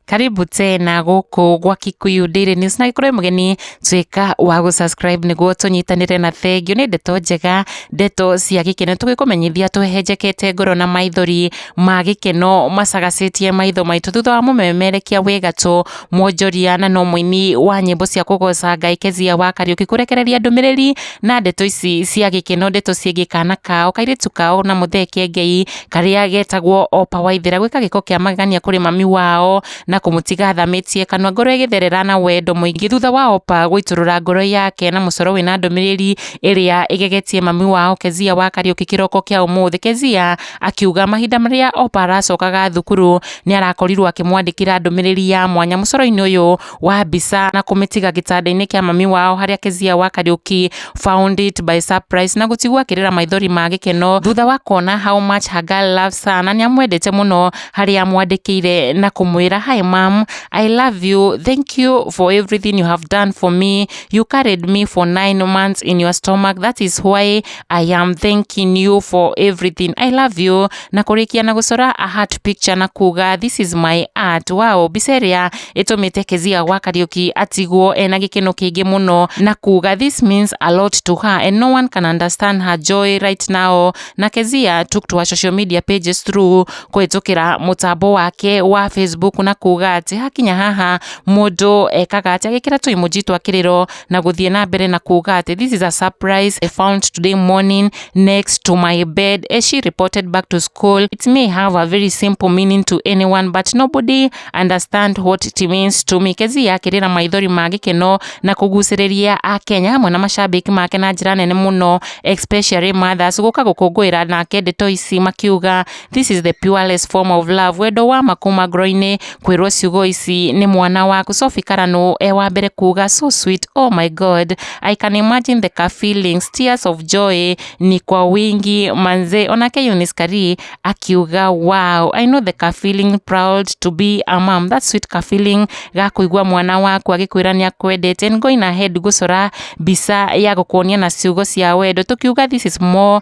karibu tena guku gwa Kikuyu Daily News na ikorwo mugeni twika wa gu subscribe niguo tunyitanire na thengio ni ndeto njega ndeto cia gikeno tugikumenyithia twehenjekete ngoro na maithori ma gikeno macagacitie maitho maitu thutha wa mumemerekia wi gatũ Mwonjoria na no mũini wa nyĩmbo cia kũgoca Ngai Kezia wa Kariũki kũrekereria ndũmĩrĩri na ndeto ici cia gĩkeno ndeto ciĩgiĩ kana kao kairĩtu kao na Mũthee Kiengei karĩa getagwo Opa Waithera gwĩka gĩko kĩa magegania kũrĩ mami wao na kũmũtiga athamĩtie kanua ngoro ĩgĩtherera na wendo mũingĩ thutha wa Opa gũitũrũra ngoro yake na mũcoro wĩna ndũmĩrĩri ĩrĩa ĩgegetie mami wao Kezia wa Kariũki kĩroko kĩa ũmũthĩ. Kezia Akiuga mahinda marĩa Opa aracokaga thukuru nĩ arakorirwo akĩmwandĩkĩra ndũmĩrĩri ya mwanya mũcoro-inĩ ũyũ wa mbica na kũmĩtiga gĩtanda-inĩ kĩa mami wao harĩa Kezia wa Kariuki found it by surprise na gũtigwo akĩrĩra maithori ma gĩkeno thutha wa kuona how much her girl loves her na nĩ amwendete mũno harĩa amwandĩkĩire na kũmwĩra hi mom I love you thank you for everything you have done for me you carried me for nine months in your stomach that is why I am thanking you for everything. I love you. Na kũrĩkia na gũcora a heart picture na kuga this is my art. Wow, mbica ĩrĩa ĩtũmĩte Kezia wa Kariuki atigwo ena gĩkeno kĩingĩ mũno na kuga this means a lot to her and no one can understand her joy right now. Na Kezia took to her social media pages through kũhĩtũkĩra mũtambo wake wa Facebook na kuga atĩ hakinya haha mũndũ ekaga atĩ agĩkĩra tũ emoji twa kĩrĩro na gũthiĩ na mbere na kuuga atĩ this is a surprise I found today morning next to my bed as she reported back to school it may have a very simple meaning to anyone but nobody understand what it means to me Kezia akĩrĩra maithori ma gĩkeno na kũgucĩrĩria akenya hamwe na macambĩki make na njĩra nene mũno especially mothers gũka gũkũngũĩra nake ndeto ici makiuga This is the purest form of love wendo wa ma kuma ngoro-inĩ kwĩrwo ciugo ici nĩ mwana waku Sophie Karanu e wa mbere kuga so sweet oh my god I can imagine the ka feelings tears of joy ni kwa wingi manze onake Eunice Kari akiuga wow I know the ka feeling proud to be a mom that sweet ka feeling ga kũigua mwana waku agĩkwĩra nĩ akwendete and going ahead gũcora mbica ya gũkuonia na ciugo cia wendo tũkiuga this is more